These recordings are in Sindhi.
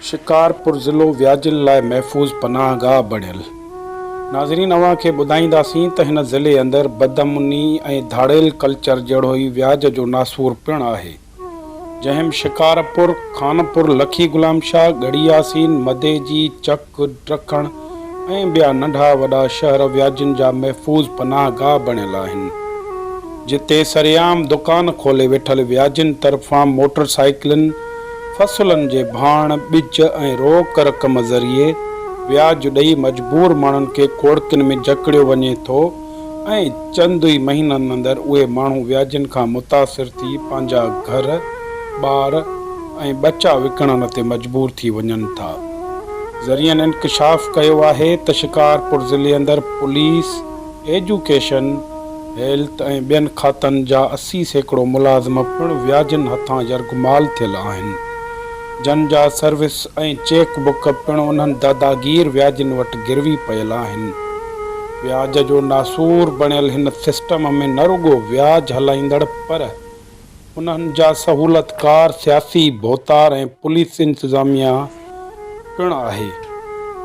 شڪارپور ضلعو وياجن لاء محفوظ پناهه گاهه بڻيل. ناظرين اوهان کي ٻڌائينداسين ته هن ضلعي اندر بدامني ۽ ڌاڙيل ڪلچر جهڙو ئي وياج جو ناسور پڻ آهي جنهن م شڪارپور، خانپور، لکي غلام شاهه، ڳڙهي ياسين، مديجي، چڪ، گڊ ٽرڪڻ ۽ ٻيا ننڍا وڏا شهر وياجين جا محفوظ پناهه گاهه بڻيل آهن، جتي سرعام دڪان کولي ويٺل وياجين طرفان موٽر سائيڪلن، فصلن جي ڀاڻ، ٻج ۽ روڪ رقم ذريعي وياج ڏئي مجبور ماڻهن کي کوڙڪين ۾ جڪڙيو وڃي ٿو، ۽ چند ئي مهينن اندر اهي ماڻهو وياجين کان متاثر ٿي پنهنجا گهر، ٻار ۽ ٻچا وڪڻڻ تي مجبور ٿي وڃن ٿا. ذريعن انڪشاف ڪيو آهي ته شڪارپور ضلعي اندر پوليس، ايجوڪيشن، هيلٿ ۽ ٻين کاتن جا اسي سيڪڙو ملازم پڻ وياجين هٿان يرغمال ٿيل آهن، جن جا سروس ۽ چيڪ بڪ پڻ انهن داداگير وياجين وٽ گروي پيل آهن. وياج جو ناسور بڻيل هن سسٽم ۾ نه رڳو وياج هلائيندڙ پر انهن جا سهولتڪار سياسي ڀوتار ۽ پوليس انتظاميا پڻ آهي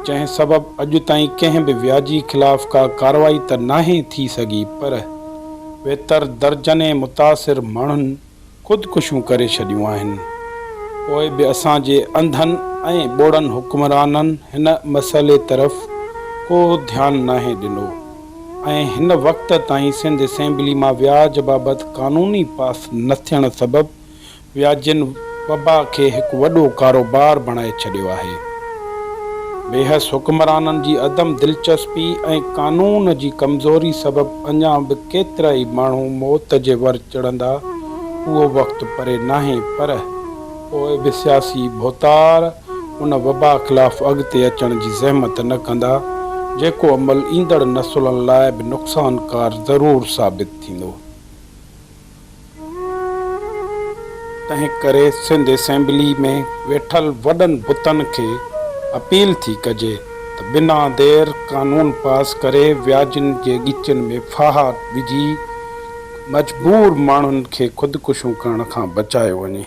جنهن سبب اڄ تائين ڪنهن به وياجي خلاف ڪا ڪارروائي ته ناهي ٿي سگهي پر ويتر درجنين متاثر ماڻهن خودڪشيون ڪري ڇڏيون آهن پوء به اسان جي انڌن ۽ ٻوڙن حڪمرانن هن مسئلي طرف ڪو ڌيان ناهي ڏنو ۽ هن وقت تائين سنڌ اسيمبلي مان وياج بابت قانوني پاس نه ٿيڻ سبب وياجين وبا کي هڪ وڏو ڪاروبار بڻائي ڇڏيو آهي بيحس حڪمرانن جي عدم دلچسپي ۽ قانون جي ڪمزوري سبب اڃا به ڪيترائي ماڻهو موت جي ور چڙهندا، اهو وقت پري ناهي، پر پوء به سياسي ڀوتار ان وبا خلاف اڳتي اچڻ جي زحمت نه ڪندا، جيڪو عمل ايندڙ نسلن لاء به نقصانڪار ضرور ثابت ٿيندو. تنهن ڪري سنڌ اسيمبلي ۾ ويٺل وڏن بتن کي اپيل ٿي ڪجي ته بنا دير قانون پاس ڪري وياجن جي ڳچين ۾ ڦاها وجهي مجبور ماڻهن کي خودڪشيون ڪرڻ کان بچايو وڃي.